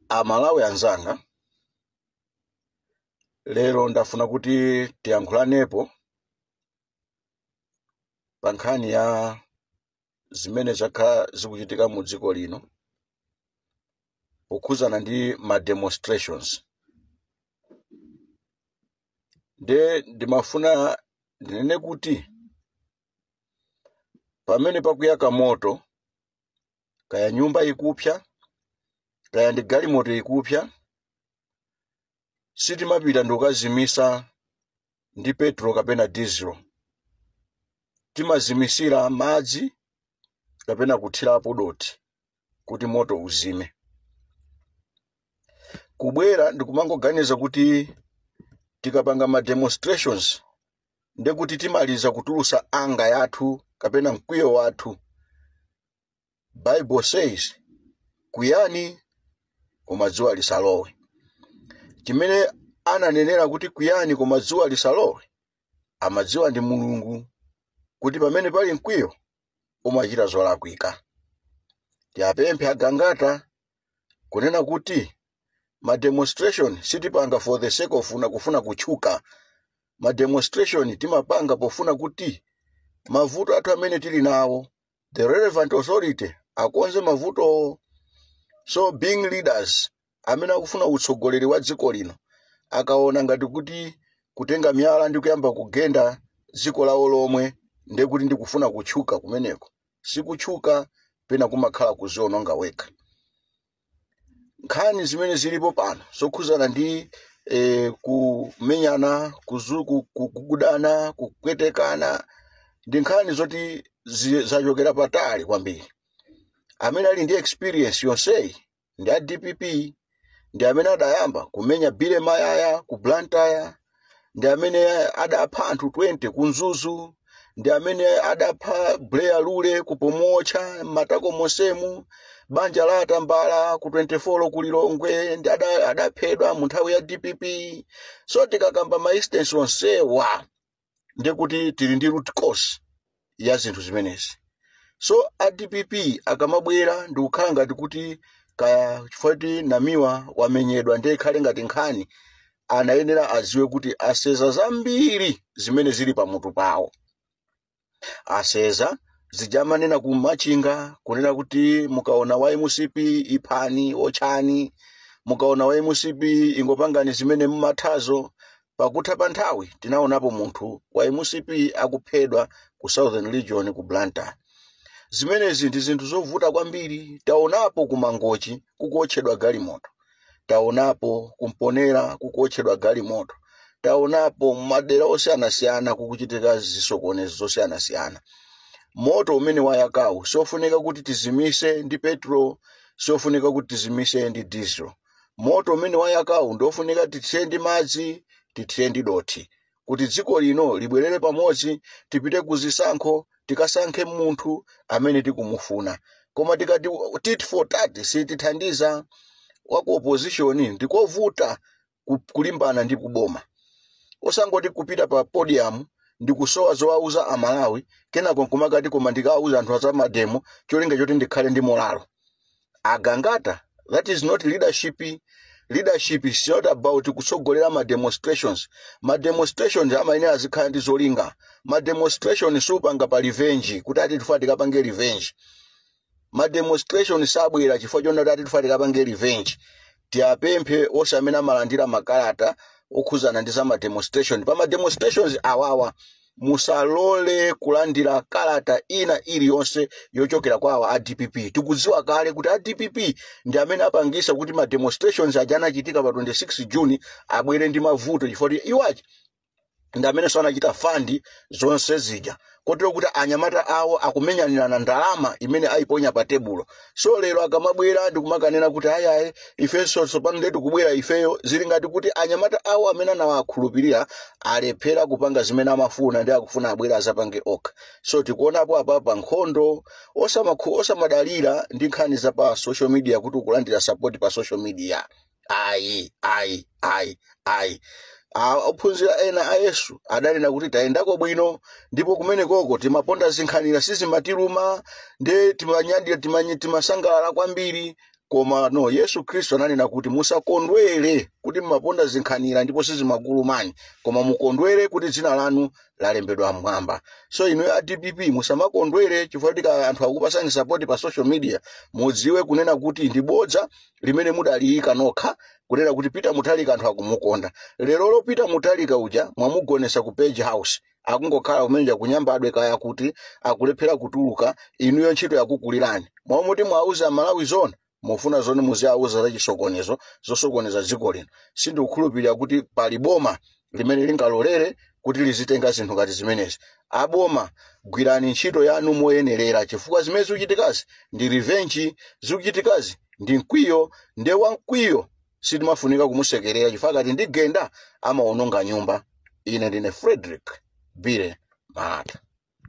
amalawi anzanga lero ndafuna kuti tiyankhulanepo pa nkhani ya zimene zakhala zikuchitika mu dziko lino pokhuzana ndi ma demonstrations nde ndimafuna ndinene kuti pamene pakuyaka moto kaya nyumba ikupsa kaya ndi galimoto ikupsa sitimapita ndikukazimisa ndi petro kapena dizilo timazimisira madzi kapena kuthirapo dothi kuti moto uzime kubwera ndikumangoganiza kuti tikapanga ma demonstrations ndiye kuti timaliza kutulusa anger yathu kapena mkwiyo wathu bible says kwiyani koma dzuwa lisalowe chimene ananenera kuti kwiyani koma dzuwa lisalowe amadziwa ndi mulungu kuti pamene pali mkwiyo umachita zolakwika tiapemphe a gangata kunena kuti ma demonstration sitipanga for the sake ofuna kufuna kutchuka ma demonstration timapanga pofuna kuti mavuto athu amene tili nawo the relevant authority akonze mavuto so being leaders amene akufuna utsogoleri wa dziko lino akaona ngati kuti kutenga miyala ndi kuyamba kugenda dziko lawo lomwe ndekuti ndikufuna kutchuka kumeneko sikutchuka pena kumakhala kuziononga wekha nkhani zimene zilipo pano zokhuzana ndi eh, kumenyana kuzu- ku- ku- kugudana kupwetekana ndi nkhani zoti zi- zachokera patali kwambiri amene ali ndi experience yonseyi ndi a dpp ndi amene adayamba kumenya billy mayaya ku blantyre ndi amene adapha anthu 20 ku mzuzu ndi amene adapha buleya lule ku pomuotcha m'matako monsemu banja la atambala ku 24 ku lilongwe ndi ada- adaphedwa mu nthawi ya dpp so tikakamba ma instance onsewa ndiye kuti tili ndi root cause ya zinthu zimenezi so a dpp akamabwera ndikukhala ngati kuti kaya chifukwa kuti namiwa wamenyedwa ndiye ikhale ngati nkhani anayenera aziwe kuti aseza zambiri zimene zili pamutu pawo aseza zija amanena ku machinga kunena kuti mukaona wa mcp iphani otchani mukaona wa mcp ingopangani zimene mumathazo Pakutha pa nthawi tinaonapo munthu wa mcp akuphedwa ku Southern Region ku Blantyre. Zimenezi ndi zinthu zovuta kwambiri. Taonapo ku Mangochi kukuotchedwa galimoto. Taonapo ku Mponela kukuotchedwa galimoto. Taonapo m'madera osiyanasiyana kukuchitika zisokonezo zosiyanasiyana. Moto umene wayakawu siofunika kuti tizimitse ndi petrol, siofunika kuti tizimitse ndi diesel. moto umene wayakawu ndi ofunika tithire ndi madzi tithire ndi dothi kuti dziko lino libwerere pamodzi tipite ku zisankho tikasankhe munthu amene tikumufuna koma tikati tit for tat sitithandiza waku opposition ndikovuta ku- kulimbana ndi kuboma osangoti kupita pa podium ndi kusowa zowauza amalawi kenako nkumakati koma ndikawauza anthu azamademo cholinga choti ndikhale ndi molalo agangata that is not leadership leadership is not about kutsogolera ma demonstrations ma demonstrations amayenera azikhala ndi zolinga ma demonstration siupanga pa revenge kuti ati tifuna tikapange revenge ma demonstration sabwera chifukwa chonena kuti ati tifuna tikapange revenge Tiapemphe onse amene amalandira makalata okhuzana ndi za ma demonstration pa ma demonstrations awawa musalole kulandira kalata ina iliyonse yochokera kwa awa a dpp tikudziwa kale kuti a dpp ndi amene apangisa kuti ma demonstrations aja anachitika pa 26 june abwere ndi mavuto chifukwa kuti iwo aja ndi amenenso anachita fandi zonse zija kotero kuti anyamata awo akumenyanirana ndalama imene ayiponya pa tebulo so lero akamabwera ndi kumakanena kuti ayi ayi ifenso tsopano nde tikubwera ifeyo zili ngati kuti anyamata awo amene anawakhulupirira alephera kupanga zimene amafuna nde akufuna abwere azapange okha so tikuonapo apapa nkhondo osamakhu- osamadalira ndi nkhani za pa social media kuti ukulandira support pa social media ayi ayi ayi ayi A- ophunzira ena a yesu adanena kuti tayendako bwino ndipo kumenekoko timaponda zinkhanira sizimatiluma nde timanyadira timanye- timasangalala kwambiri koma no yesu khristu ananena kuti musakondwere kuti mumaponda zinkhanira ndipo sizimakulumani koma mukondwere kuti dzina lanu lalembedwa mmwamba so inu a dpp musamakondwere chifukwa choti anthu akupasani sapoti pa social media mudziwe kunena kuti ndi bodza limene mudaliyika nokha kunena kuti peter mutharika anthu akumukonda lero lo peter mutharika uja mwamugonesa ku page house akungokhala kumene kuja kunyambadwe kaya kuti akulephera kutuluka inuyo ntchito yakukulirani mmalo moti muwauze amalawi zona mufuna zoti muziwauza zachisokonezo zosokoneza dziko lino sindikukhulupirira kuti pali boma limene lingalolere kuti lizitenga zinthu ngati zimenezi aboma gwirani ntchito yanu moyenerera chifukwa zimene zikuchitikazi ndi revenge zikuchitikazi ndi mkwiyo nde wamkwiyo sitimafunika kumusekerera chifukwa akati ndigenda amaononga nyumba ine ndine frederick bire malata